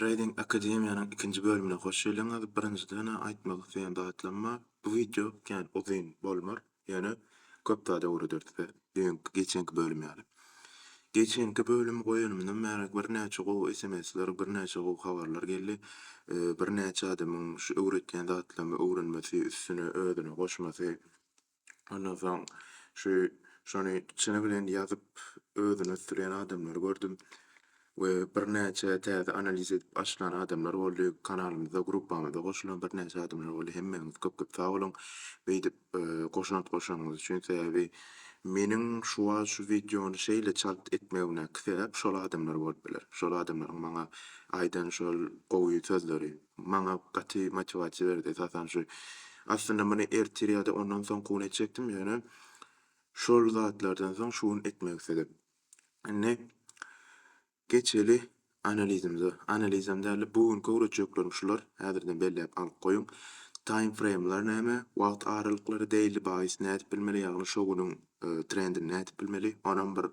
Trading Akademiýanyň ikinji bölümine hoş geldiňiz. Birinjiden aýtmak isleýän zatlarym bar. Bu wideo kän uzyn bolmar, ýöne köp zat öwreder size, düýnki, geçenki bölüm ýaly. Geçenki bölümi goýanymdan bäri birnäçe gowy sms-ler, birnäçe gowy habarlar geldi. Birnäçe adamyň şu öwretýän zatlarymy öwrenmesi, üstüne özüni goşmasy Ondan soň şu şony çyny bilen ýazyp özüni ösdürýän adamlary gördüm we birnäçe täze analiz edip açylan adamlar boldy. Kanalymyza, gruppamyza goşulan birnäçe adamlar boldy. Hemmäňiz köp-köp sag boluň beýdip goşant goşanyňyz üçin. Sebäbi meniň şu wagt şu wideony şeýle çalt etmegimdäki sebäp şol adamlar bolup biler. Şol adamlaryň maňa aýdan şol gowy sözleri. maňa gaty motiwasiýa berdi esasan şu. Aslynda muny ertir ýa-da ondan soňky gün etjekdim, ýöne şol zatlardan soň şu gün etmek isledim. Indi geçeli analizimize. Analizem däl-de bu günki öwretjeklerim şular, häzirden belläp alyp goýuň. Taýmfreýmler näme, wagt aralyklary, deýli baýys nädip bilmeli, ýagny şo günüň Trendini nädip bilmeli? Onam bir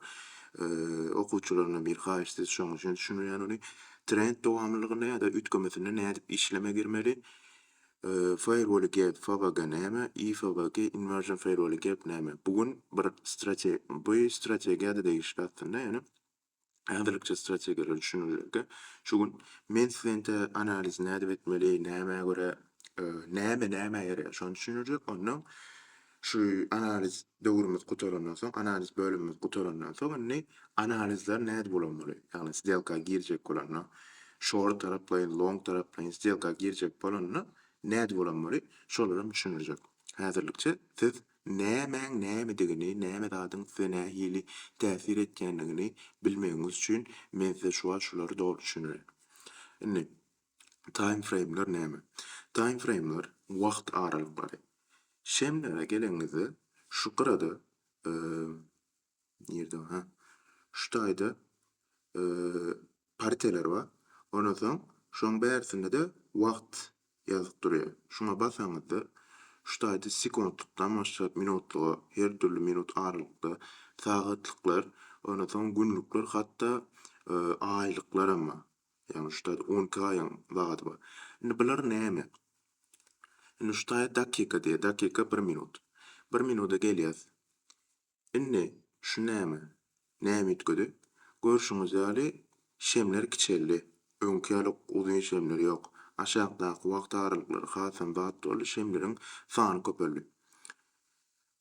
okuwçylaryna bir haýyş siz şoň üçin düşünilýän ony. Trend dowamlylygynda ýa-da üýtgemesinde nädip işleme girmeli? Firewall gap FWG näme? IFWG inversion firewall gap näme? Bu gün bir strategiýa bu strategiýada degişli aslynda ýöne Häzirlikçe strategiýalar düşünilende, şu gün menswente analiz nädip etmeli, nämä görä, näme nämä ýaraýar, şony düşündirjek. Ondan şu analiz döwrümiz gutarandan soň, analiz bölümimiz gutarandan soň, indi analizler nädip ulanmaly, ýagny sdelka girjek bolanda, şort taraplaýyn, long taraplaýyn sdelka girjek bolanda nädip ulanmaly, şolara düşündirjek. Häzirlikçe siz Nämäň nämedigini, näme zadyň size nähili täsir etýändigini bilmegiňiz üçin men size şu wagt şulary doly düşündireýin. Indi, taýmfreýmler näme? Taýmfreýmler wagt aralyklary. Şemlere gelenimizde, şu gyrada, nirde o, hä, şu taýda partiýalar bar. Ondan soň şoň bärsinde-de wagt ýazyp durýar. Şuňa basaňyzda şu taýda sekuntlykdan başlap minutlyga her dürli minut aralykda sagatlyklar, ondan soň günlükler hatda aýlyklaram bar. Ýagny şu taýda on iki aýyň wagty bar. Indi bular näme? Indi şu taýda dakika diýýär. Dakika bir minut. Bir minuda gelýäs. Indi, şu näme? Näme üýtgedi? Görşüňiz ýaly, şemler kiçeldi. Öňki ýaly uzyn şemler ýok. Aşakdaky wagt aralyklary hasam bat boldy, şemleriň sany köpeldi.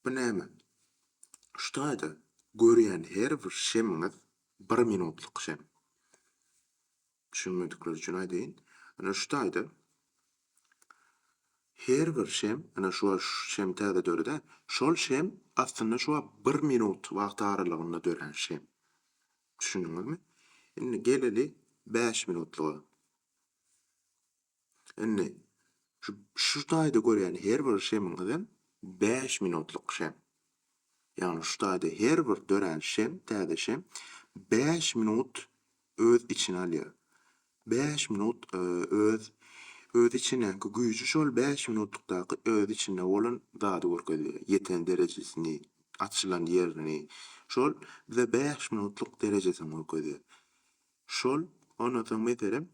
Bu näme? Şu taýda görýän her bir şemiňiz bir minutlyk şem. Düşünmedikler üçin aýdaýyn. Ine şu taýda her bir şem, ine şu şem täze döredi-ä. Şol şem aslynda şu wagt bir minut wagt aralygynda dörän şem. Düşündiňizmi? Indi geleli bäş minutlyga. Indi, şu, şu taýda görýän her bir şemiňizem bäş minutlyk şem. Ýagny şu taýda her bir dörän şem, täze şem bäş minut öz içine alýar. Bäş minut öz öz içindäki güýji şol bäş minutlykdaky öz içinde bolan zady görkezýär. Ýeten derejesini, açylan ýerini. Şol bize bäş minutlyk derejesini görkezýär. Şol, ondan soň, meselem,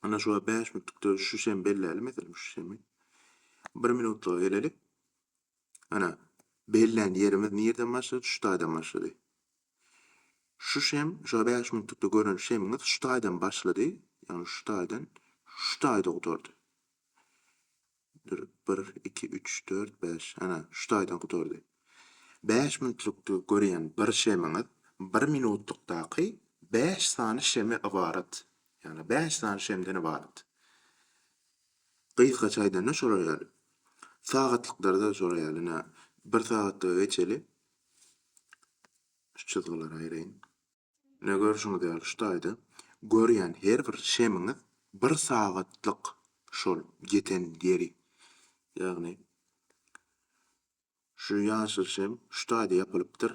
Ana şuwagt bäş minutlyk döwüş şu şem belläli meselem şu şemi. Bir minutlyga geleli. Ana bellän ýerimiz nirden başlady? Şu taýdan başlady. Şu şem, şu bäş minutlykda gören şemiňiz şu taýdan başlady. Ýagny şu taýdan şu taýda gutardy. Dur, bir, iki, üç, dört, bäş, ana, şu taýdan gutardy. Bäş minutlykda görýän bir şemiňiz bir minutlykdaky bäş sany şeme ybarat. Ýagny bäş sany şemden ybarat. Gysgaça aýdanda şolar ýaly. Sagatlyklarda şolar ýaly, ine, bir sagatlyga geçeli. Şu çyzgylary aýraýyn. Ine görşüňiz ýaly şu taýda görýän her bir şemiňiz bir sagatlyk şol ýeten ýeri. Ýagny şu ýaşyl şem şu taýda ýapylypdyr,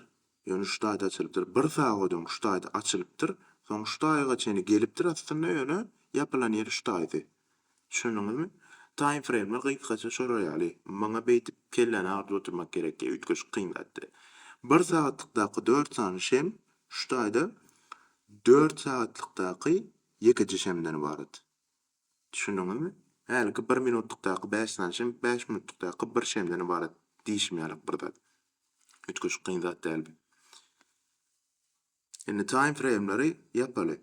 ýöne şu taýda açylypdyr. Bir sagat öň şu taýda açylypdyr, soň şu taýga çenli gelipdir aslynda ýöne ýapylan ýeri şu taýdy. Düşündiňizmi? Taýmfreýmler gysgaça şolar ýaly. Maňa beýdip kelläni agyryp oturmak gerek diýip üýtgeşik kyn zatdy. Bir sagatlykdaky dört sany şem şu taýda dört sagatlykdaky ýekeje şemden ybarat. Düşündiňizmi? Häliki bir minutlykdaky bäş sany şem bäş minutlykdaky bir şemden ybarat diýşim ýalyk bir zat. Üýtgeşik kyn zat dälbi? Indi time frame-leri ýapaly.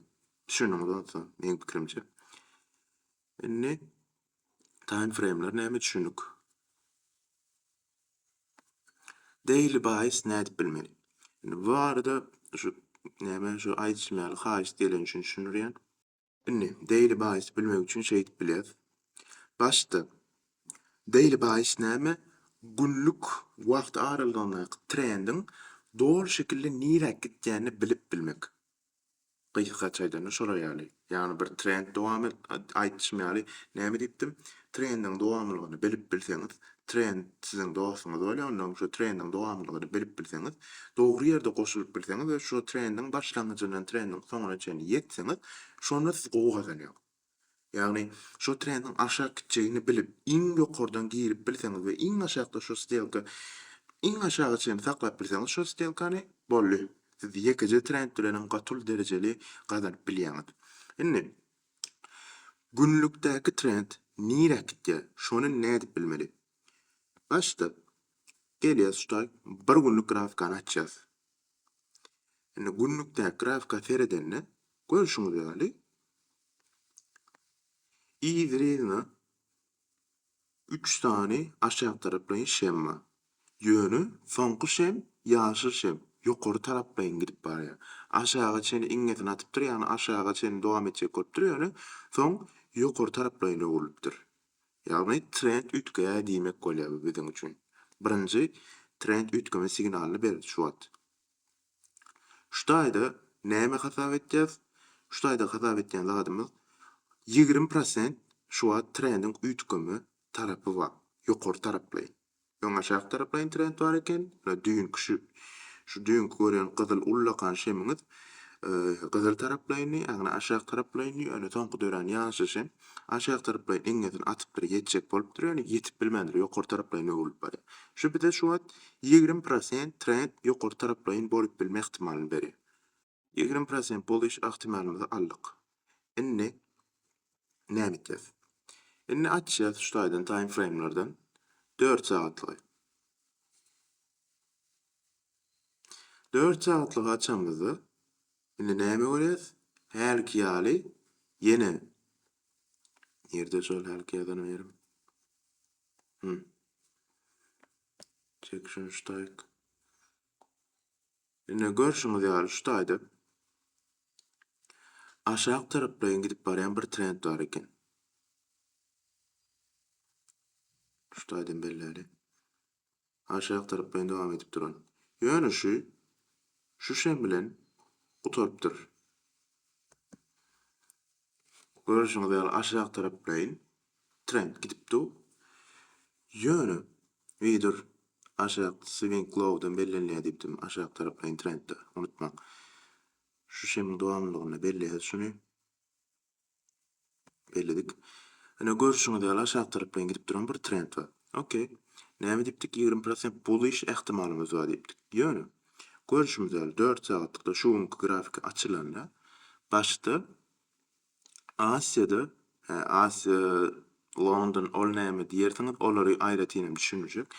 Düşündiňiz onsa meň pikirimçe. Indi time frame-ler näme düşündik. Daily buys nädip bilmeli? Indi bu arada şu näme şu aýdyşym ýaly haýyşt gelen üçin düşündirýän. Indi, daily basis bilmek üçin şeýdip bilýäs. Başda daily basis näme? Günlük wagt aralygyndaky trendiň doly şekilde niräk gitýänini bilip bilmek. Gysgaça aýdanda şolar ýaly. Ýagny bir trend dowamy, aýdyşym ýaly, näme diýipdim? Trendiň dowamlylygyny bilip bilseňiz, trend siziň dostuňyz bolýar, onda hem şu trendiň dowamlylygyny bilip bilseňiz, dogry ýerde goşulyp bilseňiz we şu trendiň başlangyjyndan trendiň soňuna çenli ýetseňiz, şonda siz gowy gazanýaňyz. Ýagny, şu trendiň aşak gitjegini bilip, iň ýokardan girip bilseňiz we iň aşakda şu stelka iň aşaga çenli saklap bilseňiz şu stelkany, boldy, siz ýekeje trend bilenem gaty uly derejeli gazanyp bilýäňiz. Indi, Günlükdäki trend nirä gitýär, şony nädip bilmeli? Başda gelýäs şu taý bir günlük grafkany açýas. Indi günlükdäki grafika seredende görşüňiz ýaly yzryna Üç sany aşak taraplaýyn şem bar. Ýöne soňky şem, ýaşyl şem, ýokary taraplaýyn gidip barýar. Aşaga çenli iňňesini atypdyr, ýagny aşaga çenli dowam etjek bolupdyr, ýöne soň ýokary taraplaýyn öwrülipdir. Ýagny trend üýtgeýär diýmek bolýar bu biziň üçin. Birinji trend üýtgeme signalyny berdi şu wagt. Şu taýda näme hasap etýäs? Şu taýda hasap etýän zadymyz ýigrimi prosent şu wagt trendiň üýtgeme tarapy bar. Ýokary taraplaýyn. Öň aşak taraplaýyn trend bar eken. Ýöne düýnki şu şu düýnki görýän gyzyl ullakan şemiňiz gyzyl taraplaýyndy, ýagny aşak taraplaýyndy. Ýöne soňky dörän ýaşyl şem aşak taraplaýyn eňňesini atypdyr, ýetjek bolupdyr. Ýöne ýetip bilmändir, ýokary taraplaýyn öwrülip barýar. Şu bize şu wagt Ýigrimi prosent trend ýokary taraplaýyn bolup bilme ähtimalyny berýär. Ýigrimi prosent boluş ähtimalymyzy aldyk. Indi näme etýäs? Indi açýas şu taýdan time frame-lerden dört sagatlygy. Dört sagatlygy açanymyzda indi näme görýäs? Hälki ýaly ýene nirde şol hälki ýazan ýerim? Hum. Section Style. Ine görşüňiz ýaly şu taýda aşak taraplaýyn gidip barýan bir trend bar eken. Şu taýdan belläli. Aşak taraplaýyn dowam edip duran. Ýöne şu şu şem bilen gutarypdyr. Görşüňiz ýaly aşak taraplaýyn trend gidip dur. Ýöne wider aşak swing low dan bellenilýär diýipdim aşak taraplaýyn trendde. Unutmaň. Şu şemiň dowamlylygynda belleýäs şuny. Belledik. Ine görşüňiz ýaly aşak taraplaýyn gidip duran bir trend bar. Okey. Näme diýipdik ýigrimi prosent bullish ähtimalymyz bar diýipdik. Ýöne görşümiz ýaly dört sagatlykda şu günki grafiki açylanda başda Asiýada, hä, Asiýa, London, ol näme diýersiňiz, olary aýratynam düşünmejek.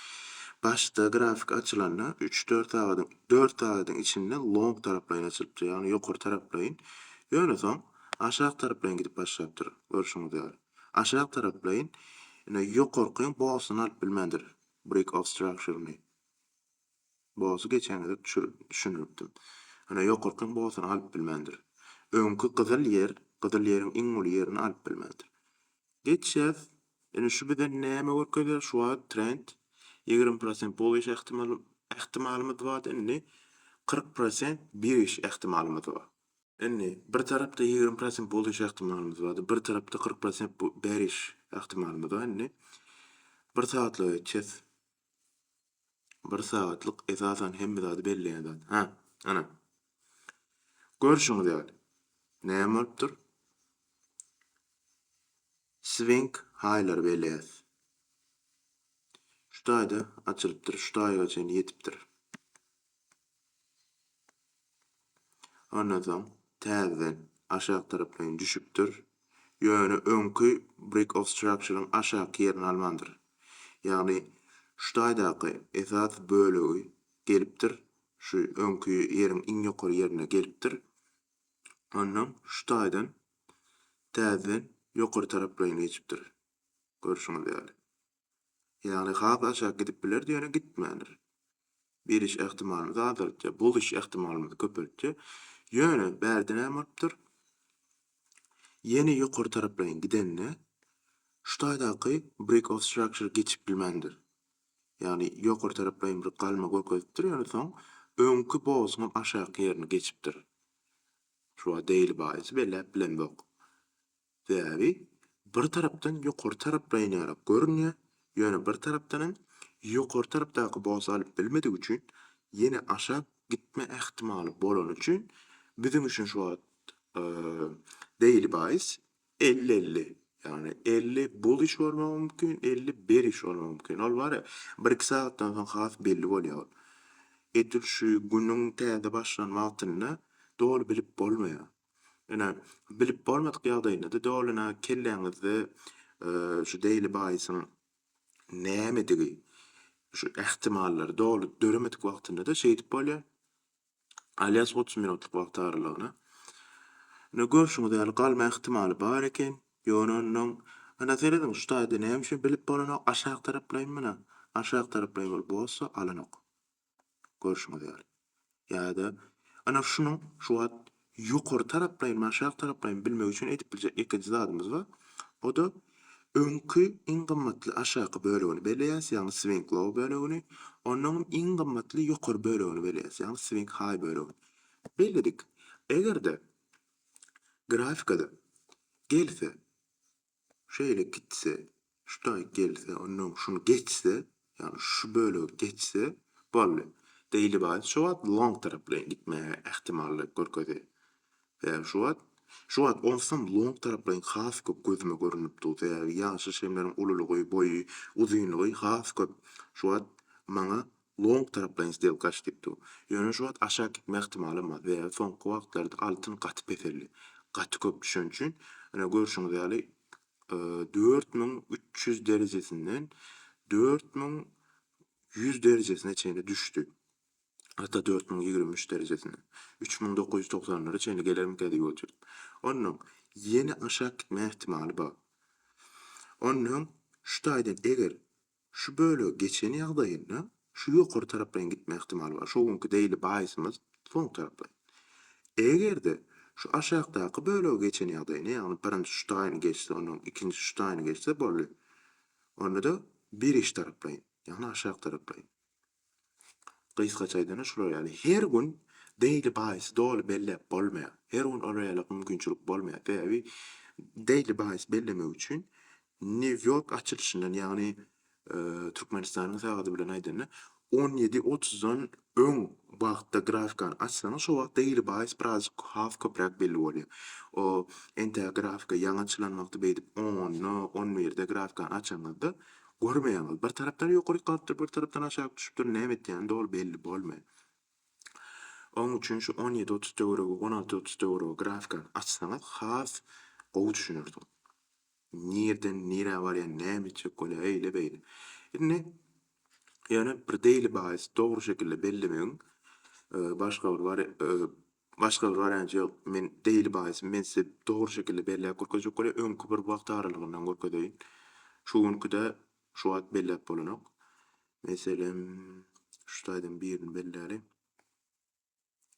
Başda grafik açylanda, üç-dört sagadyň, dört sagadyň içinde long taraplaýyn açylypdyr, ýagny ýokary taraplaýyn. Ýöne soň aşak taraplaýyn gidip başlapdyr, görşüňiz ýaly. Aşak taraplaýyn, ine, ýokarky bossyny alyp bilmändir, break of structure-ny. Bosy geçen gezek düşündiripdim. Ýöne ýokarkyň bosyny alyp bilmändir. Öňki gyzyl ýer, gyzyl ýeriň iň uly ýerini alyp bilmändir. Geçýäs. Indi şu bize näme görkezer? Şu wagt trend ýigrimi prosent bol iş ähtimalymyz bardy, indi kyrk prosent bir iş ähtimalymyz bar. Indi bir tarapda ýigrimi prosent bol iş ähtimalymyz bardy, bir tarapda kyrk prosent bir iş ähtimalymyz bar. Indi bir sagatlyga geçýäs. Bir sagatlyk esasan hemme zady belleýän zat. Hä, ana. Görşüňiz ýaly. Näme bolupdyr? Swing haýlary belleýäs. Şu taýda açylypdyr, şu taýyga çenli ýetipdir. Ondan soň täzeden aşak tarapyn düşüpdir. Ýöne öňki Brick of Structure-yň aşaky ýerini almandyr. Ýagny şu taýdaky esas bölegi gelipdir, şu öňki ýeriň iň ýokary ýerine gelipdir. Ondan şu taýdan täzeden ýokary taraplaýyn geçipdir. Görşüňiz ýaly. Ýagny has aşak gidip bilerdi ýöne gitmändir. Beriş ähtimalymyzy azaltýar, bozuş ähtimalymyzy köpeltýär. Ýöne bärde näme bolupdyr? Ýene ýokary taraplaýyn gidende şu taýdaky break of structure geçip bilmändir. Ýagny ýokary taraplaýyn bir galma görkezipdir ýöne soň öňki bozuň aşaky ýerini geçipdir. Şu wagt daily baýasy belläp bilemzok. Sebäbi bir tarapdan ýokary taraplaýyn ýaly görünýär, ýöne bir tarapdanam ýokary tarapdaky bos alyp bilmedigi üçin ýene aşak gitme ähtimaly bolany üçin biziň üçin şu wagt daily buys elli elli ýagny elli bullish bolmagy mümkin elli berish bolmagy mümkin ol bary bir iki sagatdan soň has belli bolýar ol edil şu günüň täze başlan wagtynda doly bilip bolmaýar. Ine, bilip bolmadyk ýagdaýynda-da dolyna kelläňizde şu Daily Baýsyň nämedigi, şu ähtimallary doly döremedik wagtynda-da şeýdip bolýar. Alýas otuz minutlyk wagt aralygyna. Ine, görşüňiz ýaly galma ähtimaly bar eken. Ýöne onnoň, ine, serediň, şu taýda näme üçin bilip bolanok, aşak taraplaýyn, mana, aşak taraplaýyn bolup bolsa alanok. Görşüňiz ýaly. Ýa-da ana şunuň şu wagt ýokary taraplaýynmy, aşak taraplaýynmy bilmek üçin edip biljek ýekeje zadymyz bar. O-da öňki iň gymmatly aşaky bölegini belleýäs, ýagny swing low bölegini, onnoň hem iň gymmatly ýokary bölegini belleýäs, ýagny swing high bölegini. Belledik. Eger-de grafikada gelse, şeýle gitse, şu taý gelse, onnoň şuny geçse, ýagny şu bölegi geçse, boldy. Daily Wire şu wagt long taraplaýyn gitmäge ähtimallyk görkezýär. Sebäbi şu wagt, şu wagt onsoň long taraplaýyn has köp gözüme görünip dur. Sebäbi ýaşaýyş hemleriň ululygy, boýy, uzynlygy has köp. Şu wagt maňa Long taraplaýyn stel gaç diýip dur. Ýöne şu wagt aşak gitme ähtimalym bar, sebäbi soňky wagtlarda altyn gaty peseldi. Gaty köp düşen üçin, ine görşüňiz ýaly dört müň üç ýüz derejesinden dört müň ýüz derejesine çenli düşdi. Hatda dört müň ýigrimi üç derejesine. Üç müň dokuz ýüz togsanlara çenli gelermikä diýip otyryn. Onnoň ýene aşak gitme ähtimaly bar. Onnoň şu taýdan eger Şu bölegi geçen ýagdaýynda şu ýokary taraplaýyn gitme ihtimaly bar. Şo günki daily baýysymyz soň taraplaýyn. Eger-de şu aşakdaky bölegi geçen ýagdaýynda, ýagny birinji şu taýyny geçse, ondan ikinji şu taýyny geçse boldy. Onda-da bir iş taraplaýyn, ýagny aşak taraplaýyn. Gysgaça aýdanda şular ýaly. Her gün daily buys doly belläp bolmaýar. Her gün olar ýaly mümkinçilik bolmaýar. Sebäbi daily buys bellemek üçin New York açylyşyndan ýagny Türkmenistanyň sagady bilen aýdanda on ýedi otuzdan öň wagtda grafikany açsaňyz şo wagt daily buys birazjyk has köpräk belli bolýar. O entäk grafika ýaňy açylan wagty beýdip onda on birde grafikany açanyňyzda Görmeýäňiz, bir tarapdan ýokaryk galypdyr, bir tarapdan aşak düşüpdir, näme etýäni doly belli bolmaýar. Oň üçin şu on ýedi otuz töweregi, on alty otuz töweregi grafikany açsaňyz has gowy düşünersiňiz. Nirden nirä barýan, näme etjek bolýar, eýle beýle. Indi ýöne bir daily baýs dogry şekilde bellemegiň başga bir Başga bir wariant ýok. Men daily basis, men size dogry şekilde belläp görkezjek welin öňki bir wagt aralygyndan görkezeýin. Şu günkide şu wagt belläp bolanok. Meselem, şu taýdan birini belläliň.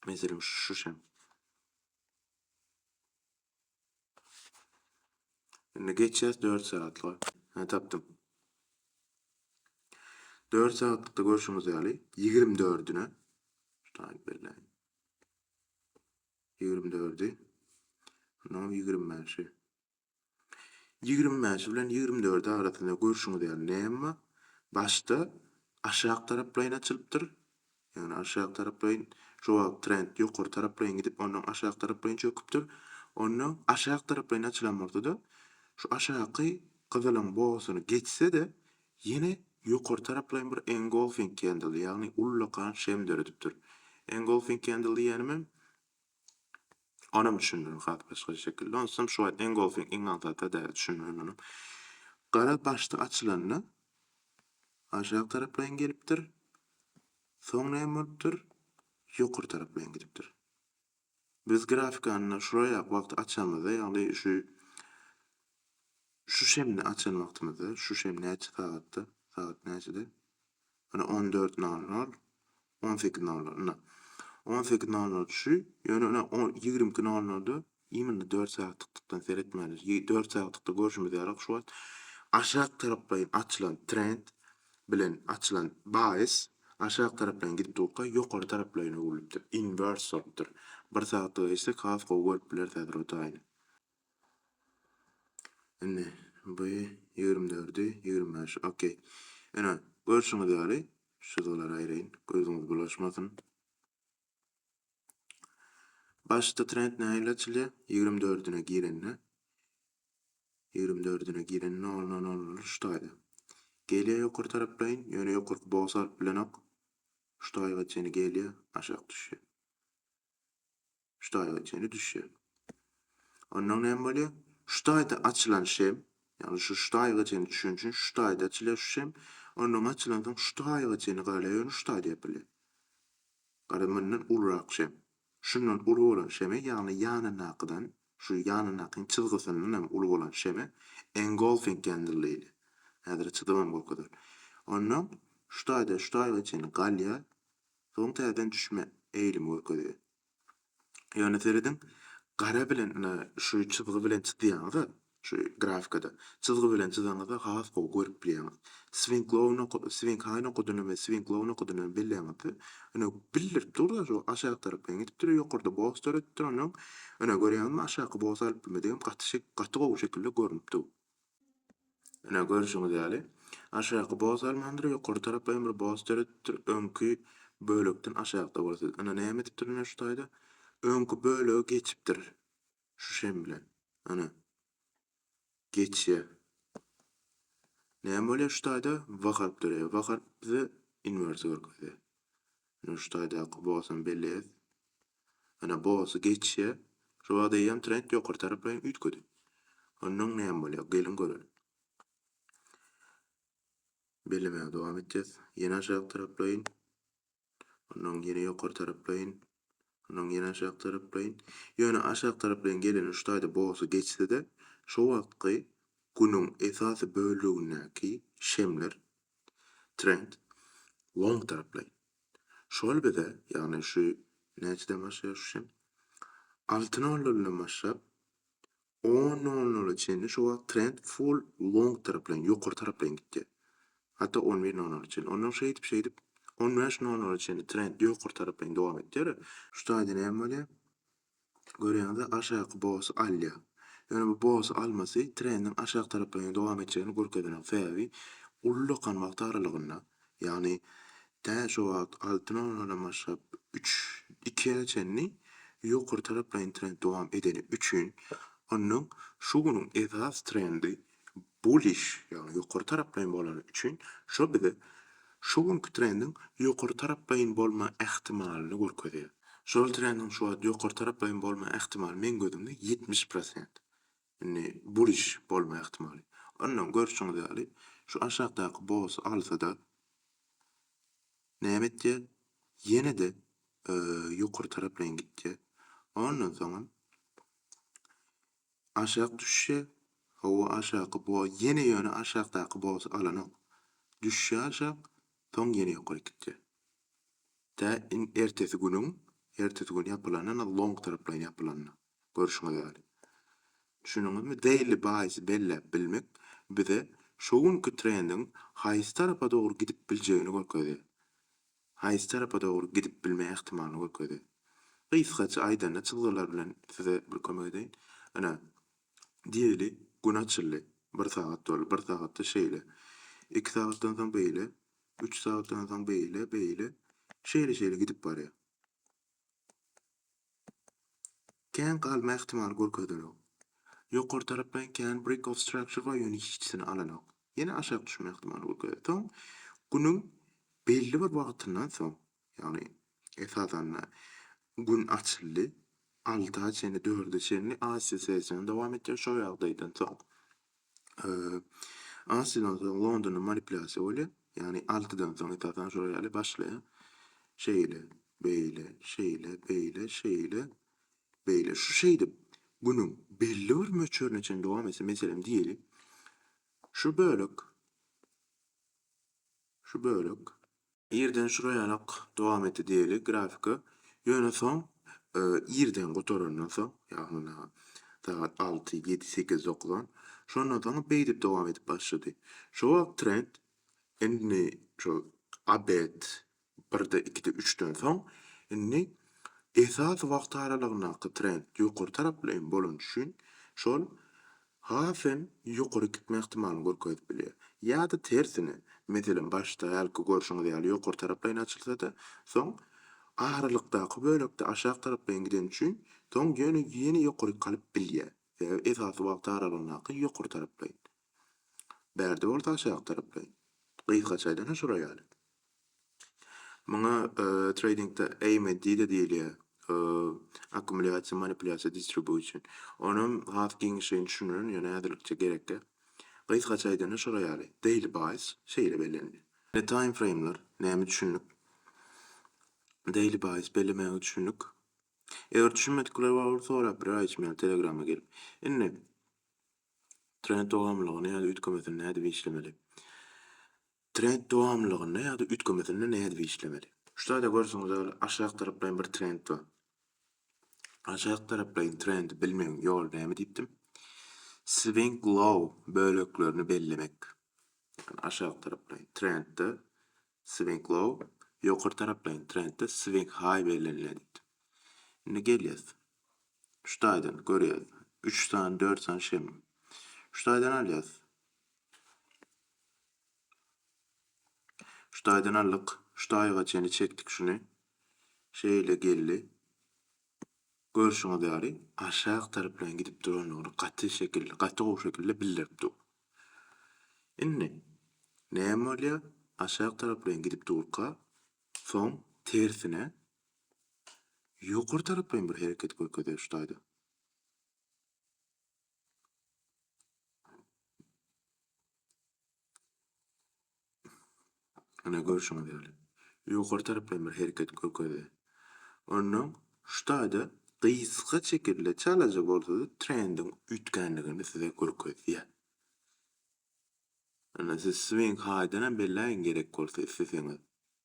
Meselem, şu şem. Indi geçýäs dört sagatlyga. Hä, tapdym. Dört sagatlykda görşüňiz ýaly, ýigrimi dördüne, şutaýy belläýin, ýigrimi dördi, onnoňam ýigrimi bäşi, ýigrimi bäşi bilen ýigrimi dördi arasynda görşüňiz ýaly näme bar? Başda aşak taraplaýyn açylypdyr, Ýagny aşak taraplaýyn jogap trend ýokary taraplaýyn gidip ondan aşak taraplaýyn çöküpdir. Onda aşak taraplaýyn açylan bolsada şu aşaky gyzylyň bogasyny geçsede ýene ýokary taraplaýyn bir engolfing kendl ýagny ullakan şem döredipdir. Engolfing kendl diýýänim hem Onam düşündirme has başgaça şekilde. Onsam şu wagt iň gowusy iň aňsatda däl düşündirme muny. Gara başda açylanda aşak taraplaýyn gelipdir. Soň näme bolupdyr? Ýokary taraplaýyn gidipdir. Biz grafikany şuraýak wagty açamyzda, ýagny şu şu şemde açan wagtymyzda, şu şem näçe sagatda, sagat näçede? Ýöne on dört nol nol, on sekiz nol nol, ynha, on sekiz nol nol şu, ýöne ine, on, ýigrimi iki nol nolda imminle dört sagtyklykdan seretmeli. Ýe, dört sagtykda görşümiz ýaly, şu wagt aşak taraplaýyn açylan trend bilen açylan baýys aşak taraplaýyn gidip durka, ýokary taraplaýyn öwrülipdir, inwers bolupdyr. Bir sagtlyga geçsek, has gowy görüp bileris häzir o taýyny. Indi bu ýigrimi dördi, ýigrimi bäşi, okey. Ine, görşüňiz ýaly, şu zolary aýraýyn, gözüňiz bulaşmasyn. Başda trend nähili açylýar? Ýigrimi dördüne girende, ýigrimi dördüne giren noluna nollar şu taýda. Gelýär ýokary taraplaýyn, ýöne ýokarky boks alyp bilenok. Şu taýga çenli gelýär, aşak düşýär. Şu taýyňa çenli düşýär. Ondan näme bolýar? Şu taýda açylan şem, ýagny şu şu taýyga çenli düşeni üçin şu taýda açylýar şu şem. Ondan açylan soň şu taýyga çenli galýar, ýöne şu taýda ýapylýar. Gara mundan ulurak şem. Şundan uly bolan şeme, ýagny ýanyndakydan, şu ýanyndakyň çyzgysyndan hem uly bolan şeme engolfing candle diýilýär. Häzire çyzybam görkezer. Ondan şu taýda şu taýyga çenli galýar, soň täzeden düşme eýlimi görkezýär. Ýöne serediň, gara bilen ine şu çyzgy bilen çyzýaňyz-a, şu grafikada, çyzgy bilen çyzaňyzda has gowy görüp bilýäňiz. Swinklow noka Swinghai nokadyny we Swinklow nokadyny hem belläňizde, ine, bildirip dur-da, şu aşak tarap bilen gidip dur, ýokarda bos döretdir, onsoň, ine, görýäňizmi, aşaky bosy alyp bilmedigim gaty gaty gowy şekilde görnüp dur. Ine, görşüňiz ýaly, aşaky boz almandyr, ýokary tarapa hem bir boz döredipdir, öňki bölekden aşakda bolsa. Ine, näme edipdir ine şu taýda? Öňki bölege geçipdir. Şu şem bilen. Ine. Geçýär. Näme bolýar şu taýda? Wakaryp döreýär. Wakaryp bize inwersi görkezýär. Ýöne şu taýdaky bosam belli et. Ýöne bosy geçýä. Şu wagt eýýäm trend ýokary taraplaýyn üýtgedi. Onnoň näme bolýa geliň göreli. Bellemäge dowam etýäs. Ýene aşak taraplaýyn. Onnoň ýene ýokary taraplaýyn. Onnoň ýene aşak taraplaýyn. Ýöne aşak taraplaýyn geleni şu taýda bosy geçse-de, şu wagtky günüň esasy bölegindäki şemler Trend long taraplaýyn. Şol bize, ýagny şu näçeden başlaýar şu şem? Alty nol noldan başlap on nol nola çenli şu wagt trend full long taraplaýyn, ýokary taraplaýyn gitýär. Hatda on bir nol nola çenli. Ondan şeýdip şeýdip on bäş nol nola çenli trend ýokary taraplaýyn dowam etýär. Şu taýda näme bolýar? Görýäňiz-ä aşaky bosy alýar. Ýöne bu bosy almasy trendiň aşak tarapdan hem dowam etjegini görkezýän sebäbi uly lokan wagty aralygynda, ýagny tä şu wagt alty nollardan başlap üç ikiä çenli ýokary taraplaýyn trend dowam edeni üçin ondan şu günüň esas trendi Bullish, ýagny ýokary taraplaýyn bolany üçin şo bize şu günki trendiň ýokary taraplaýyn bolma ähtimalyny görkezýär. Şol trendiň şu wagt ýokary taraplaýyn bolma ähtimaly meň gözümde ýetmiş prosent. Indi bullish bolma ähtimaly. Ondan görşüňiz ýaly şu aşakdaky bosy alsada näme etýär? Ýene-de ýokary taraplaýyn gitýär. Ondan soňam Aşak düşşe, hawa aşaky bo ýene ýöne aşakdaky bosy alanok. Düşşe aşak, soň ýene ýokaryk gitýä. Tä in ertesi günüň, ertesi gün ýapylanda na long taraplaýyn ýapylanda. Görşüňiz ýaly. Düşündiňizmi? Daily buys belläp bilmek bize şo günki trendiň haýsy tarapa dogry gidip biljegini görkezýä. haýsy tarapa dogry gidip bilme ähtimalyny görkezdi. Gysgaça aýdanda çyzgylar bilen size bir kömek edeýin. Ine, diýeli, gün açyldy. Bir sagat boldy. Bir sagatda şeýle. Iki sagatdan soň beýle. Üç sagatdan soň beýle, beýle. Şeýle-şeýle gidip barýar. Kän galma ähtimaly görkezilenok. Ýokary tarap men kän Brick of Structure bar ýöne hiçisini alanok. Ýene aşak düşme ähtimaly görkezýär. Soň günüň belli bir wagtyndan soň, ýagny esasanda gün açyldy, alta çenli, dörde çenli Aziýa session dowam etýär, şo ýagdaýdan soň Asydan soň Londonda manipulýasiýa bolýar. Ýagny altydan soň esasan şolar ýaly başlaýar. Şeýle, beýle, şeýle, beýle, şeýle, beýle. Şu şeýdip günüň belli bir möçberine çenli dowam etse, meselem diýeli, şu bölek, şu bölek, Irden şuraýanok dowam etdi diýeli grafika. Ýöne soň irden gutarandan soň, ýagny muna sagat alty, ýedi, sekiz, dokuzan, şondan soň beýdip dowam edip başlady. Şo wagt trend indi şol obed birde, ikide, üçden soň indi esasy wagt aralygyndaky trend ýokary taraplylaýyn bolany üçin şol has hem ýokary gitme ähtimalyny görkezip bilýär. Ýa-da tersine, meselem başda hälki görşüňiz ýaly ýokary taraplaýyn açylsa-da, soň aralykdaky bölekde aşak taraplaýyn gideni üçin, soň ýöne ýene ýokaryk galyp bilýär. Sebäbi esasy wagt aralygyndaky ýokary taraplaýyn. Bärde bolsa aşak taraplaýyn. Gysgaça aýdanda şolar ýaly. Muňa treýdingde AMD de diýilýär, akkumulýasiýa, manipulýasiýa, distribusion. Onam has giňişleýin düşündirin, ýöne häzirlikçe gerekge. Gysgaça aýdanda şolar ýaly, Daily Buys şeýle bellenilýär. Ine time frame'ler näme düşündik. Daily Buys bellemäge düşündik. Eger düşünmedikler bar bolsa sorap biler Aýçem ýaly telegrama gelip. Indi trend dogamlylygyny ýa-da üýtgemesini nädip işlemeli. Trend dowamlylygynda ýa-da üýtgemesinde nädip işlemeli? Şu taýda görseňiz ýaly aşak taraplaýyn bir trend bar. Aşak taraplaýyn trendi bilmegiň ýoly näme diýipdim? Swing low böleklerini bellemek. Ýagny aşak taraplaýyn trendde swing low, ýokary taraplaýyn trendde swing high bellenilýär diýipdim. Indi gelýäs. Şu taýdan görýäs. Üç sany, dört sany şem. Şu taýdan alýas. Şu taýdan aldyk. Şu taýga çenli çekdik şuny. Şeýle geldi. Görşüňiz ýaly, aşak taraplan gidip durandygyny gaty şekilde, gaty gowy şekilde bildirip dur. Indi näme bolýar? Aşak taraplan gidip durka, soň tersine ýokary taraplan bir hereket görkezýär şu taýda. Ine görşüňiz ýaly, ýokary tarapdan bir hereket görkezdi. Onnoň şu taýda gysga şekilde çalaja bolsada trendiň üýtgänligini size görkezýär. Indi siz Swing High-denem belläýiň gerek bolsa isleseňiz.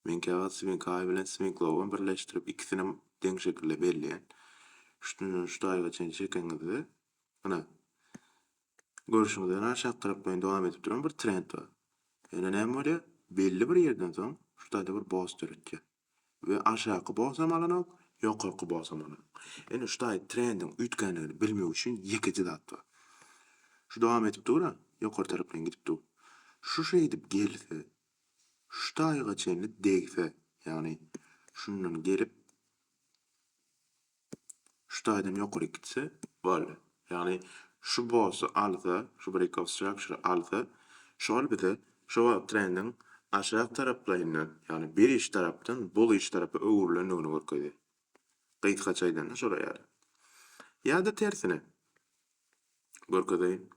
Men käwagt Swing High bilen Swing Low-am birleşdirip ikisinem deň şekilde belleýän. Şundan şu taýyga çenli çekeňizde, ine, görşüňiz ýaly aşak tarap boýun dowam edip duran bir trend bar. Ýöne näme bolýar? Belli bir ýerden soň şu taýda bir boss döretýär. We aşaky bolsam alanok, ýokarky bolsam alanok. Indi şu taýy trendiň üýtgänligini bilmek üçin ýekeje zat bar. Şu dowam edip dur-a, ýokary tarapyn gidip dur. Şu şeýdip gelse, şu taýyga çenli degse, ýagny şundan gelip, Şu taýdan ýokary gitse boldy. Ýagny şu bossy alsa, şu break of structure alsa, şol bize şu wagt trendiň aşak taraplaýyndan, ýagny bearish tarapdan bullish tarapa öwrülendigini görkezýär. Gysgaça aýdanda şolar ýaly. Ýa-da tersine görkezeýin.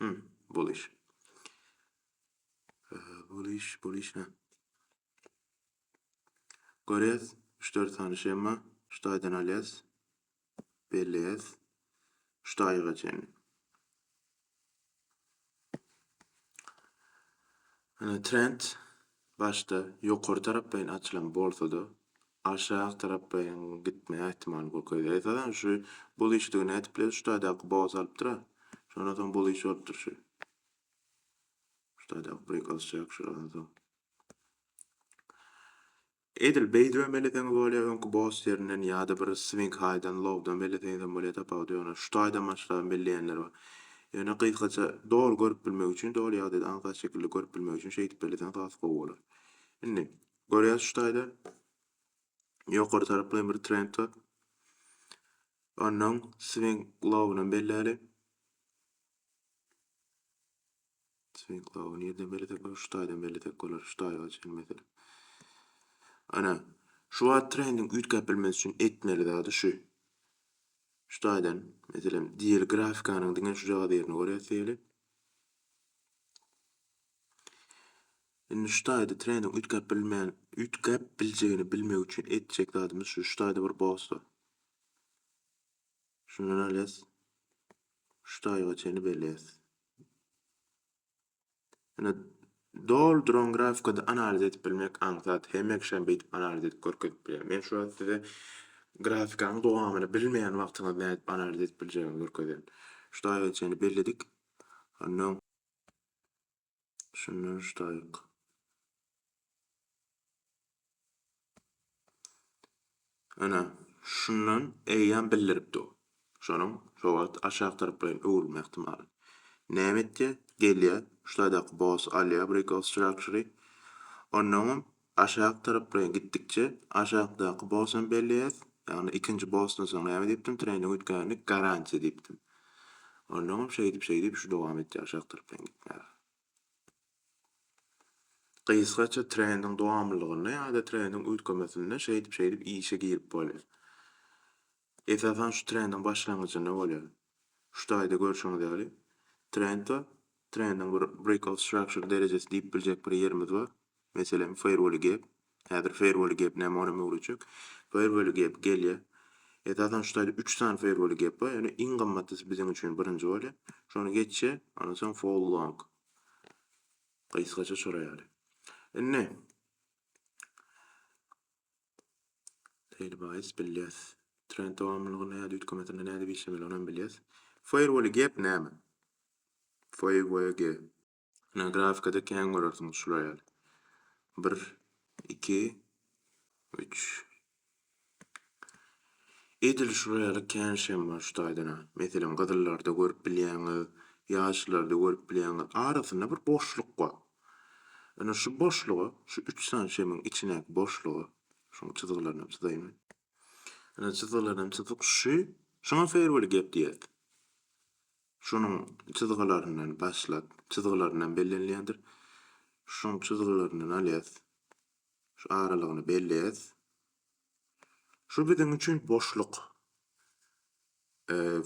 Hum, bullish. Bullish, bullish, hä. Görýäs, üç-dört sany shema şu taýdan alýas, belleýäs şu taýyga çenli. Ine trend başda ýokary taraplaýyn açylan bolsa-da, aşak taraplaýyn gitme ähtimaly kökeldi. Esasan şu bullish-digi nädip bileris, şu taýdaky boga salypdyr-a, şondan soň bullish bolupdyr şu. Şu taýdaky break alysjak şuradan soň. Edil beýdip hem eleseňiz bolýar, öňki boss ýerinden ýa-da bir swing haýdan, lowdan belleseňiz hem bolýar, tapawudy ýok. Ýöne şu taýdan başlap hem belleýänler bar. Ýöne gysgaça doly görüp bilmek üçin, doly ýagdaýda aňsat şekilde görüp bilmek üçin şeýdip belleseňiz has gowy bolar. Indi görýäs şu taýda ýokary taraplaýyn bir trend bar. Onnoň swing lowunam belläli. Çyklawy nirden bellesek bolar? Şu taýdan bellesek bolar, şu taýa çenli meselem. Ana, şu wagt trendiň üýtgäp bilmesi üçin etmeli zady şu. Şu taýdan, meselem, diýeli grafikanyň diňe şujagaz ýerini görýäs diýeli. Indi şu taýda trendiň üýtgäp bilmän, üýtgäp biljegini bilmek üçin etjek zadymyz şu. Şu taýda bir boss bar. Şundan alýas. Şu taýa çenli belleýäs. Ine, doly duran grafikada analiz edip bilmek aňsat. Hemekşem beýdip analiz edip görkezip bilýän. Men şu wagt size grafikanyň dowamyny bilmeýän wagtyňyz nädip analiz edip biljegini görkezen. Ştaýga çenli belledik. Ondan şundan ştaýg. Ana, şundan eýýäm bildirip dur. Şonuň şo wagt aşak taraplaýyn öwrülme ähtimaly. Näme etýär? Gelýär, şu taýdaky boss alýar breakout structure-y. Onnoňam aşak taraplaýyn gitdikçe aşakdaky boss hem belleýär. Ýagny ikinji bossdan soň näme diýipdim? Treýning üýtgänlik garantiýa diýipdim. Onnoňam şeýdip-şeýdip şu dowam etýär aşak taraplaýyn gitmäge. Gysgaça trendiň dowamlylygynda ýa-da trendiň üýtgemesinde şeýdip-şeýdip işe girip bolýar. Esasan şu trendiň başlangyjynda bolýar. Şu taýda görşüňiz ýaly trend bar. Trendiň bir breakout structure derejesi diýip biljek bir ýerimiz bar. Meselem, Firewall gap. Häzir Firewall gap näme onam öwredjek. Firewall gap gelýä. Esasan şu taýda üç sany Firewall gap bar. Ýöne iň gymmatlysy biziň üçin birinji bolýa. Şony geçje, ondan soň Fall long. Gysgaça şolar ýaly. Indi Tail bias bilýäs. Trend dowamlylygyny ýa-da üýtgemesini nädip işlemeli onam bilýäs. Firewall gap näme? Firewall gap. Ine, grafikada kän görersiňiz şular ýaly. Bir, iki, üç. Edil şular ýaly kän şem bar şu taýdan-a. Meselem, gyzyllarda görüp bilýäňiz, ýaşlarda görüp bilýäňiz. Arasynda bir boşluk bar. Ine, şu boşluga, şu üç sany şemiň içindäki boşluga, şuň çyzgylaryny hem çyzaýyn men. Ine, çyzgylaryny hem çyzdyk. Şu, şuňa feýerwel gep diýýäs. Şonuň çyzgylaryndan başlap, çyzgylaryndan bellenilýändir. Şonuň çyzgylaryndan alýas. Şu aralygyny belleýäs. Şu biziň üçin boşluk.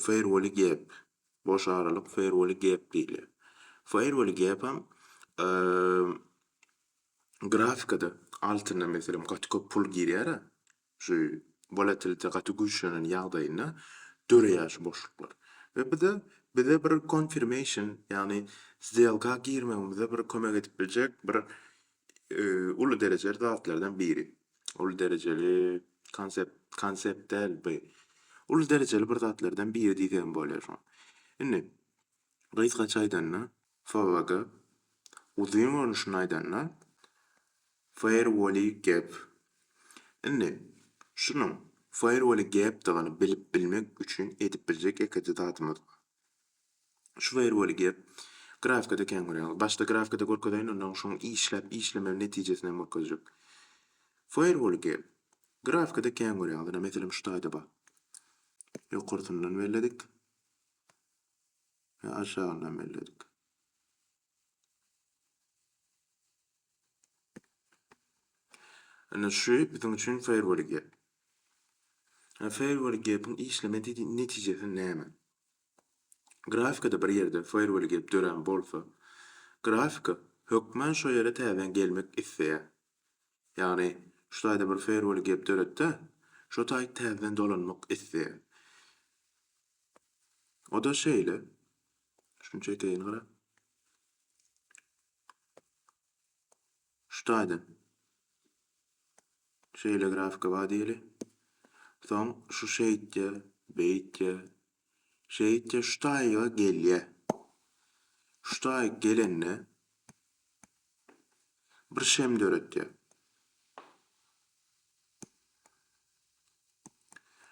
Fairwall gap. Boş aralyk fairwall gap diýilýär. Fairwall gapam grafikada altynda meselem gaty köp pul girýär-ä. Şu wolatilite gaty güýçlenen ýagdaýynda döreýär şu boşluklar. We bu-da bize bir konfirmeýşn, ýagny sdelka girmegimize bir kömek edip biljek bir uly derejeli zatlardan biri. Uly derejeli konsept, konsept däl bu. Uly derejeli bir zatlardan biri diýsegem bolýar şoň. Indi, Gysgaça aýdanda, FWG, uzyn görnüşinde aýdanda, Firewally Gap. Indi, şunuň Firewally Gapdygyny bilip bilmek üçin edip biljek ýekeje zadymyz bar. Şu Firewally Gap grafikada kän görýäňiz. Başda grafikada görkezeýin, ondan soň işläp işlemegi netijesini hem görkezjek. Firewally Gap grafikada kän görýäňiz. Ine, meselem, şu taýda bar. Ýokarsyndan belledik. we aşagyny hem belledik. Ine şu biziň üçin firewall gap. Ha firewall gap-iň işleme netijesi näme? Grafikada bir ýerde firewall gap dörän bolsa, grafika hökman şo ýere täzeden gelmek isleýär. Ýagny, şu taýda bir feýerwol gep döret-de, şo taý täzeden dolanmak isleýär. O-da şeýle, şuny çekeýin gara. Şu taýdan. Şeýle grafika bar diýeli. Soň şu şeýtýär, beýtýär, Şeýtse şu taýyga gelýä. Şu taýyk gelende bir şem döretýä.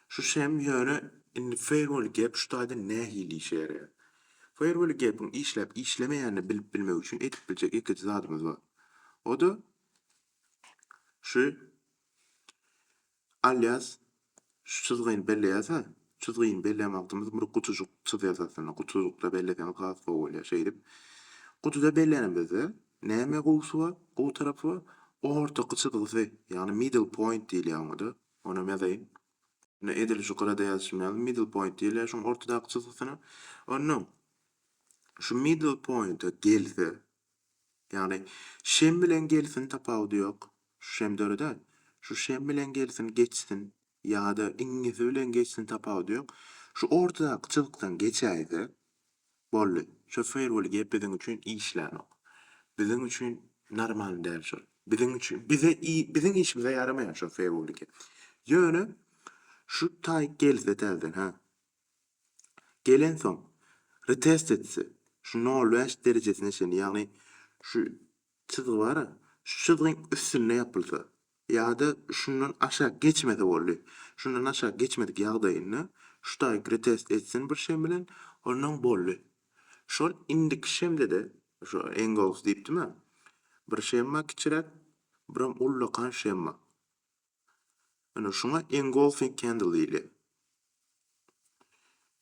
Şu şem ýöne indi firewall gap şu taýda nähili işe ýaraýar? Firewall gap-iň işläp işlemeýänini bilip bilmek üçin edip biljek ýekeje zadymyz bar. O-da şu Alýas, şu çyzgyny belleýäs-ä, çyzgyny belleýän wagtymyz bir gutujyk çyzýas aslynda, gutujykda belleseňiz has gowy bolýar. Şeýdip, gutuda bellenimizde näme gowusy bar, gowy tarapy bar? Ortaky çyzgysy, ýagny middle point diýilýär oňa-da. Onam ýazaýyn. Ine, edil şu gyrada ýazyşym ýaly middle point diýilýär şuň ortadaky çyzgysyna. Onnoň şu middle point-a gelse, Ýagny, şem bilen gelsin tapawudy ýok. Şu şem döreder. Şu şem bilen gelsin geçsin ýa-da iňňesi bilen geçsin tapawudy ýok. Şu ortadaky çyzykdan geçäýse, boldy. Şu firewall gep biziň üçin işlänok. Biziň üçin normalny däl şol. Biziň üçin, bize biziň işimize ýaramaýar şol firewall gep. Ýöne şu taýk gelse täzeden, hä? Gelensoň, retest etse, şu nol bäş derejesine çenli, ýagny şu çyzgy bar-a, şu çyzgyň üstünde ýapylsa ýa-da şundan aşak geçmese boldy. Şundan aşak geçmedik ýagdaýynda şu taýyk retest etsin bir şem bilen, onnoň boldy. Şol indiki şemde-de, şu Engows diýipdim-ä, bir şem bar kiçiräk, biram ullakan şem bar. Ine şuňa engulfing candle diýilýär.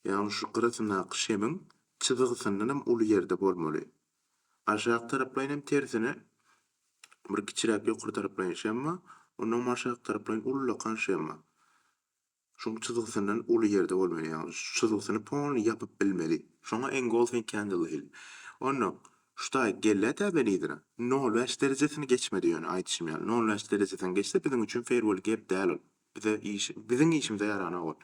Ýagny şu gyrasyndaky şemiň çyzgysyndan hem uly ýerde bolmaly. Aşak taraplaýyn hem tersine bir kiçiräk ýokary taraplaýyn şem bar, ondan hem aşak taraplaýyn ullakan şem bar. Şuň çyzgysyndan uly ýerde bolmaly, ýagny şu çyzgysyny polny ýapyp bilmeli. Şoňa engulfing candle diýildi. Onda şutaýy gelle täze lidere nol bäş derejesini geçmedi ýöne aýdyşym ýaly nol bäş derejesini geçse biziň üçin fair well gap däl ol. Bize iş biziň işimize ýaranok ol.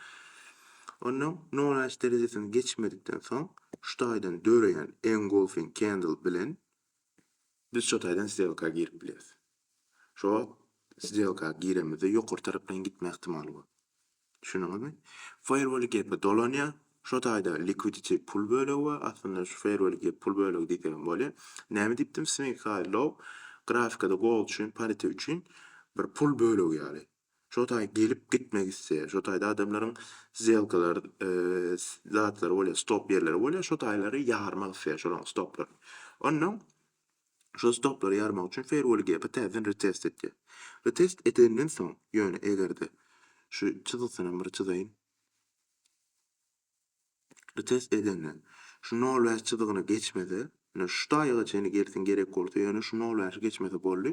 Onda nol bäş derejesini geçmedikden soň şutaýdan döreýän engulfing candle bilen Biz şo taýdan sdelka girip bileris. Şo wagt sdelka giremizde ýokary tarapdan gitme ihtimaly bar. Düşündiňizmi? Fairwall gepä dolanýar, şo taýda liquidity pul bölegi bar, aslynda şu fairwall gep pul bölegi diýsegem bolýar. Näme diýipdim, swing high low grafikada gold üçin, parite üçin bir pul bölegi ýaly. Şo taý gelip gitmek isleýär. Şo taýda adamlaryň szelkalar zatlary bolýar, stop ýerleri bolýar. Şo taýlary ýarmak isleýär şolaryň stoplaryny. Onda şo stoplary ýarmak üçin Fairwall Gap-i täzeden retest etýär. Retest edenden soň, ýöne egerde şu çyzgysynam bir çyzaýyn. Şuny test edende, şu nol bäş çyzygyny geçmese, ýöne şu taýyga çenli girsin gerek bolsa, ýöne şu nol bäşi geçmese boldy.